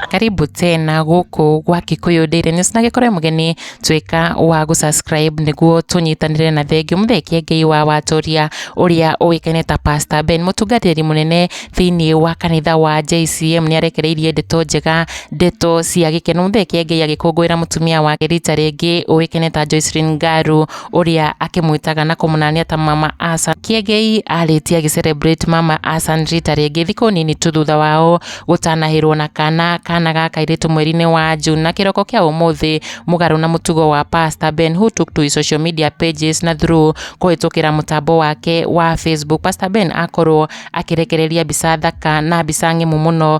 karibu tena guku gwa Kikuyu Daily News na gikore mugeni twika wa gu subscribe niguo tunyitanire na thengi muthekie ngai wa watoria uria uikaine ta Pastor Ben mutungatiri munene thiini wa kanitha wa JCM ni arekereirie ndeto njega ndeto cia gikeno muthekie ngai agikungwira mutumia wake rita ringi uikaine ta Joycelyn Ngaru ũrĩa akĩmwĩtaga na kũmũnania ta mama Asan. Kĩengei arĩtie agĩcelebrate mama Asan rita rĩngĩ thikũ nini tu thutha wao gũtanahĩrwo na kana kana ga kairĩtu mweri-inĩ wa June na kĩroko kĩa ũmũthĩ mũgarũ na mũtugo wa Pastor Ben who took to his social media pages na through kũhĩtũkĩra mũtambo wake wa Facebook. Pastor Ben akorwo akĩrekereria mbica thaka na mbica ng'emu mũno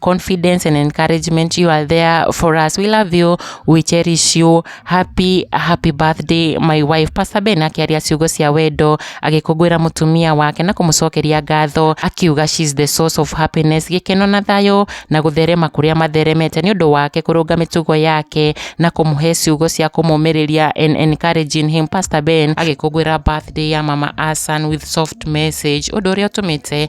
confidence and encouragement you are there for us we love you we cherish you happy happy birthday my wife pastor ben akĩaria ciugo cia wendo agĩkũngũĩra mũtumia wake na kũmũcokeria ngatho akiuga she's the source of happiness gĩkeno na thayũ na gũtherema kũrĩa matheremete nĩ ũndũ wake kũrũnga mĩtugo yake na kũmũhe ciugo cia kũmũmĩrĩria and encouraging him pastor ben agĩkũngũĩra birthday ya mama asan with soft message ũndũ ũrĩa ũtũmĩte